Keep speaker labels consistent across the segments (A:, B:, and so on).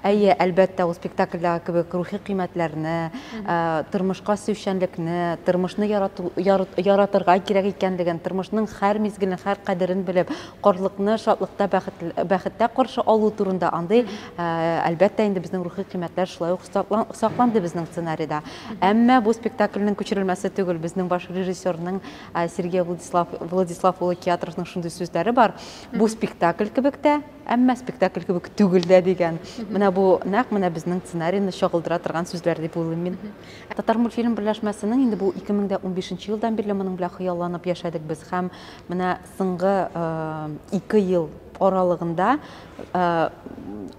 A: Әйе, әлбәттә, ул спектакльдәге кебек рухи кыйммәтләрне, тормышка сөючәнлекне, тормышны ярату, яр, яратырга кирәк икәнлеген, тормышның һәр мизгелен, һәр кадерен белеп, картлыкны шатлыкта, бәхет, бәхеттә каршы алу турында андый, әлбәттә, инде безнең рухи кыйммәтләр шулай ук сакланды безнең сценарийда. Әмма бу спектакльнең күчерелмәсе түгел, безнең баш режиссерның Сергей Владислав, Владислав улы Киатровның шундый сүзләре бар. Бу спектакль кебек тә, Әмма спектакль кебек түгел дә дигән. Менә бу нәкъ менә безнең сценарийны чагылдыра торган сүзләр дип уйлыйм мин. Татар мультфильм берләшмәсенең инде бу 2015 елдан бирле моның белән хыялланып яшәдек без һәм менә соңгы 2 э, ел аралыгында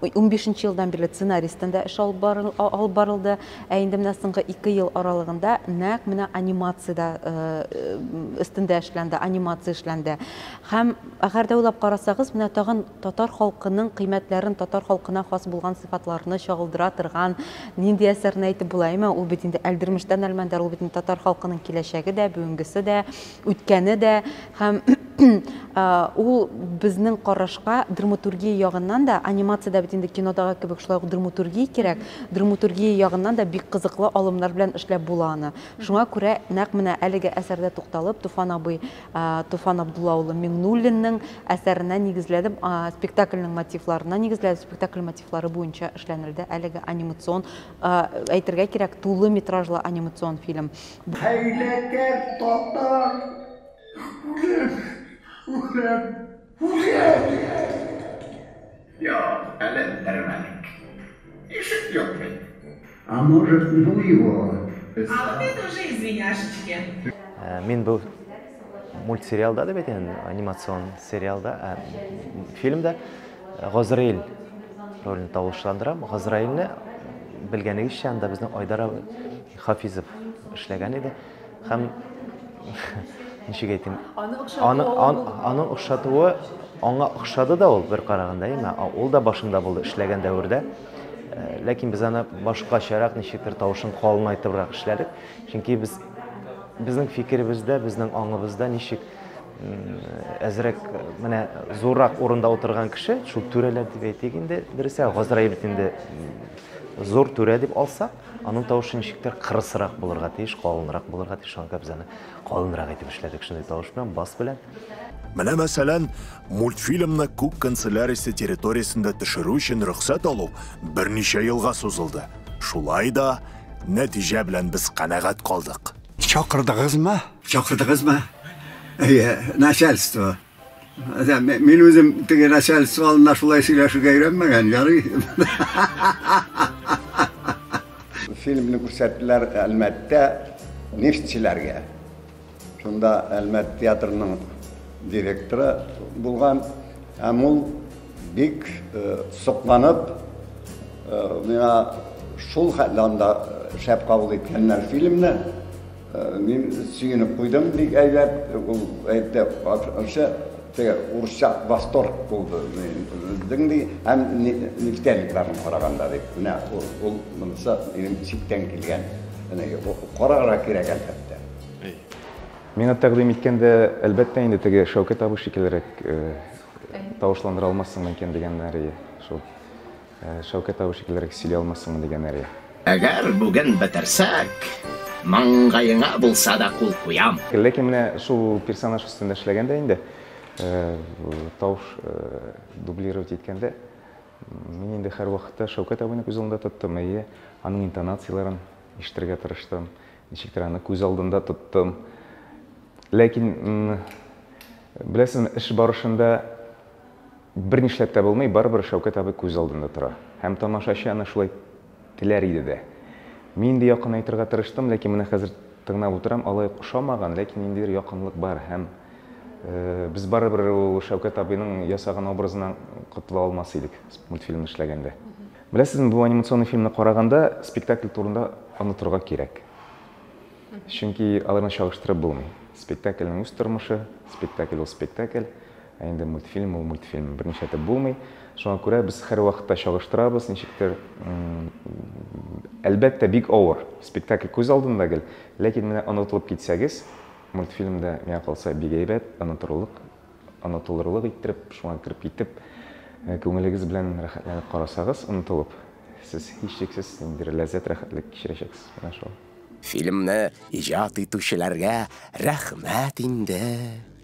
A: 15 э, елдан бирле сценаристан да эш алып барылды. Ә инде менә соңгы 2 ел аралыгында нәкъ менә анимациядә э, өстендә эшләнде, анимация эшләнде. Һәм Әгәр дә уйлап карасагыз, менә тагын татар халкының кыйммәтләрен, татар халкына хас булган сыйфатларны чагылдыра торган нинди әсәрне әйтеп була, әйме? Ул бит инде Әлдермештән Әлмәндәр, ул бит инде татар халкының киләчәге дә, бүгенгесе дә, үткәне дә һәм ул безнең карашка драматургия ягыннан да, анимация дә бит инде кинодагы кебек шулай ук драматургия кирәк, драматургия ягыннан да бик кызыклы алымнар белән эшләп була аны. Шуңа күрә нәкъ менә әлеге әсәрдә тукталып, Туфан абый Туфан Абдулла улы Миңнуллинның әсәренә нигезләдем, спектакльнең мотивларына нигезләдем, спектакль мотивлары буенча эшләнелде әлеге анимацион, әйтергә кирәк, тулы метражлы анимацион фильм. Хәйләкәр
B: татар үлем, үлем.
C: Юк, әле бетермәдек. Ишек юк бит. А
B: может ну его. А вот это
D: уже извиняшечки. Мин
E: бу мультсериалда дип әйтәм, анимацион сериалда, ә, фильмда Газраил ролен тавышландырам. Газраилне белгәнегезчә анда безнең Айдар Хафизов эшләгән иде. Һәм ничек әйтим? Аны охшатуы. Аны охшатуы аңа охшады да ул бер караганда, әйме? Ул да башында булды эшләгән дәвердә. Э, ләкин без аны башкачарак ничектер тавышын калынайтыбрак эшләдек. Чөнки без безнең фикеребездә, безнең аңыбызда ничек әзрәк менә зуррак урында утырган кеше, шул түрәләр дип әйтик инде, дөресә, Газраил бит инде зур түрә дип алсак, Аның тавышы ничектер кырысрак булырга тиеш, калынрак булырга тиеш. Шуңа күрә без аны калынрак итеп эшләдек. Шундый тавыш белән, бас белән. Менә мәсәлән,
F: мультфильмны күк канцелярисе территориясендә төшерү өчен рөхсәт алу берничә елга сузылды. Шулай да нәтиҗә белән без канәгать калдык. Чакырдыгызмы?
B: Чакырдыгызмы? Әйе, начальство. Мин үзем теге начальство алдында шулай сөйләшергә өйрәнмәгән, ярый. Фильмны күрсәттеләр Әлмәттә нефтьчеләргә. Шунда Әлмәт театрының директоры булган, һәм ул бик сокланып миңа шул хәтле анда шәп кабул иткәннәр фильмны. Мин сөенеп куйдым, бик әйбәт. Ул әйтте, ашы теге урысча восторг булды. Безнең ди һәм нефтяникларны караганда дип. Менә ул ул монысы минем читтән килгән. Менә карарга кирәк әлбәттә.
G: Миңа тәкъдим иткәндә, әлбәттә инде теге Шәүкәт абый шикеллерәк тавышландыра алмассың микән дигәннәр иде. Шул. Шәүкәт абый шикеллерәк сөйли алмассыңмы дигән әле. Әгәр бүген
C: бетерсәк, маңгаеңа булса да кул куям. Ләкин менә шул
G: персонаж өстендә эшләгәндә инде, тавыш дублировать иткәндә, мин инде һәрвакытта Шәүкәт абыйны күз алдында тоттым, әйе, аның интонацияләрен ишетергә тырыштым, ничектер аны күз алдында тоттым. Ләкин, беләсезме, эш барышында Бер нишләп тә булмый, барыбер Шәүкәт абый күз алдында тора. Һәм тамашачы аны шулай теләр иде дә. Мин инде якынайтырга тырыштым, ләкин менә хәзер тыңнап утырам, алай ук ошамаган, ләкин ниндидер якынлык бар һәм без барыбер ул Шәүкәт абыйның ясаган образына котыла алмас идек мультфильмны эшләгәндә. Беләсезме, бу анимационный фильмны караганда спектакль турында онытырга кирәк. Чөнки аларны чагыштырып булмый. Спектакльнең үз тормышы, спектакль ул спектакль. Ә инде мультфильм ул мультфильм, берничә итеп булмый. Шуңа күрә без һәрвакытта чагыштырабыз, ничектер, әлбәттә, бик авыр. Спектакль күз алдында гел, ләкин менә онытылып китсәгез, мультфильмда миңа калса бик әйбәт, онытырлык, онытылырлык иттереп, шуңа кереп китеп, э, күңелегез белән рәхәтләнеп карасагыз, онытылып, сез һичшиксез ниндидер ләззәт, рәхәтлек кичерәчәксез. Менә шул. Фильмны
H: иҗат итүчеләргә рәхмәт инде.